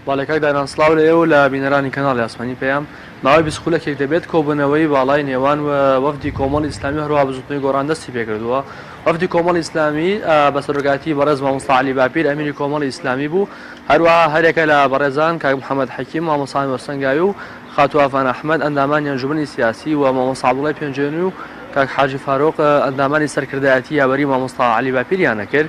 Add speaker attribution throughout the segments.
Speaker 1: بەڵێ کاک دانان سڵاو لە ئێوە و لە بینەرانی کەناڵی ئاسمانی پەیام. ماوەی بیست خولەکێک دەبێت کۆبوونەوەی باڵای نێوان وەفدی کۆمەڵی ئیسلامی و هەروەها بزووتنەوەی گۆڕان دەستی پێکردووە. وەفدی کۆمەڵی ئیسلامی بە سەرۆکایەتیی بەڕێز مامۆستا عەلی باپیر ئەمیری کۆمەڵی ئیسلامی بوو، هەروەها هەریەکە لە بەڕێزان کاک محەمەد حەکیم مامۆستا نۆر سەنگاوی و خاتوو ئافان ئەحمەد ئەندامانی ئەنجوومەنی سیاسی و مامۆستا عەبدوڵای پێنجوێنی و کاک حاجی فاروق ئەندامانی سەرکردایەتی یاوەری مامۆستا عەلی باپیریان دەکرد.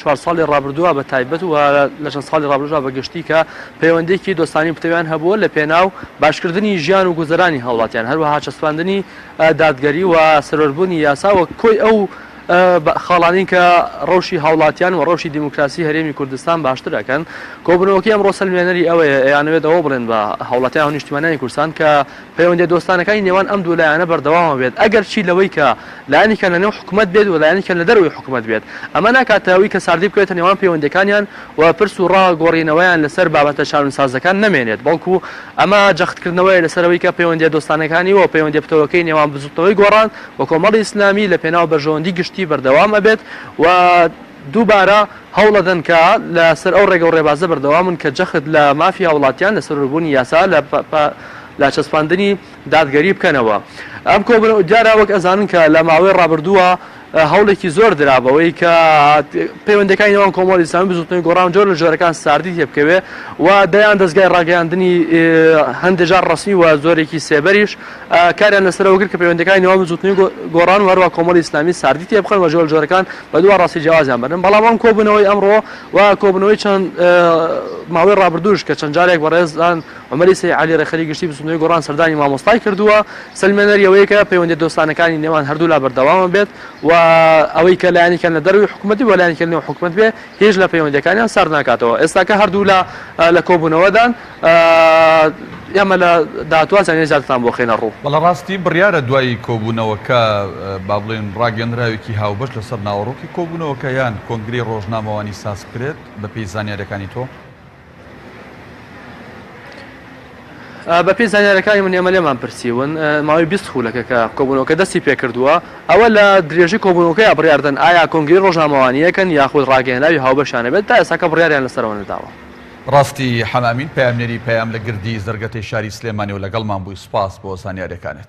Speaker 1: چوار ساڵی ڕابردووە بە تایبەت و لە چەند ساڵی ڕابردووشدا بە گشتی کە پەیوەندییەکی دۆستانەی و پتەویان هەبووە لە پێناو باشکردنی ژیان و گوزەرانی هاوڵاتیان، هەروەها چەسپاندنی دادگەری و سەروەربوونی یاسا وەک کۆی ئەو خاڵانەی کە ڕەوشی هاوڵاتیان و ڕەوشی دیموکراسی هەرێمی کوردستان باشتر ئەکەن. کۆبوونەوەکەی ئەمڕۆ سەلمێنەری ئەوەیە ئەیانەوێت ئەوە بڵێن بە هاوڵاتیان و نیشتیمانیانی کوردستان کە پەیوەندیە دۆستانەکانی نێوان ئەم دوو لایەنە بەردەوامە بێت ئەگەر چی لەوەی کە لایەنیکیان لەنێو حکومەت بێت و لایەنیکیان لەدەرەوەی حکومەت بێت ئەمە ناکاتە ئەوی کە ساردی بکەوێتە نێوان پەیوەندیەکانیان و پرس و ڕا گۆڕینەوەیان لەسەر بابەتە شانونسازەکان نەمێنێت بەڵکو ئەمە جەخت کردنەوەیە لەسەر ئەوەی کە پەیوەندیە دۆستانەکانی و پەیوەندیە پتەوەکەی نێوان بزوتنەوەی گۆڕان و کۆمەڵی ئیسلامی لە پێناو بەرژەوەندی گشتی بەردەوام ئەبێت و دووبارە هەوڵئەدەن کە لە سەر ئەو ڕێگە و ڕێبازە بەردەوام بن کە جەخت لە مافی هاوڵاتیان لە سەرووربوونی یاسا لە پە لە چەسپاندنی دادگەری بکەنەوە ئەم کۆبن دیارە وەک ئەزانن کە لە ماوەی ڕابردووە هەوڵێکی زۆر درا بەوەی کە پەیوەندەکانی نێوان کۆمەڵی ئیسلامی بزوتنەوەی گۆڕان جۆر لە جۆرەکان ساردی تێبکەوێ و دەیان دەستگای ڕاگەیاندنی هەندێجار ڕسمی و زۆرێکی سێبەریش کاریان لەسەرەوەگر کە پەیوەندەکانی نێوان بزوتنەوەی گۆڕان و هەروە کۆمەڵی ئیسلامی ساردی تێبخەن و جۆر جۆرەکان بە دوا ڕاستی جیاوازیان بەرن، بەڵام ئەم کۆبوونەوەی ئەمڕۆ و کۆبوونەوەی چەند ماوەی ڕابردووش کە چەند جارێک بەڕێزان عومەری سەی عەلی ڕێکخەری گشتی بزووتنەوەی گۆڕان سەردانی مامۆستای کردووە سەلمێنەری ئەوەیە کە پەیوەندیە دۆستانەکانی نێوان هەردوولا بەردەوامە بێت و ئەوەی کە لایەنیکیان لە دەروی حکومەتی بۆ لایەنیکە نێو حکومەت بێ هێج لە پەیوەندیەکانیان سارد ناکاتەوە ئێستاکە هەردوولا لە کۆبوونەوەدان ئێمە لە داهاتووە زانیاری زیاترتان بۆ خەینە ڕوو. بەڵێ ڕاستی بڕیارە
Speaker 2: دوای کۆبوونەوەکە با بڵێین ڕاگەندراوێکی هاوبەش لەسەر ناوەڕۆکی کۆبوونەوەکە یان کۆنگرەی ڕۆژنامەوانی سازکرێت بەپێی زانیارەکانی تۆ؟
Speaker 1: بەپێی زانیارەکانی من ئێمە لێمان پرسیون ماوەی بیست خولەکە کە کۆبوونەوەکە دەستی پێکردووە ئەوە لە درێژەی کۆبوونەوەکەی بڕاردن ئایا کۆنگری ڕۆژنامەوانیەکەن یاخود ڕاگەیەنراوی هاوبەشانە بێت تا ئێساکە بڕاریان لەسەرەوە نەداوە ڕاستی
Speaker 2: حەمامین پەیامنێری پەیام لە گردی زەرگەتەی شاری سلێمانیەوە لەگەڵمان بووی سوپاس بۆ زانیارەکانت.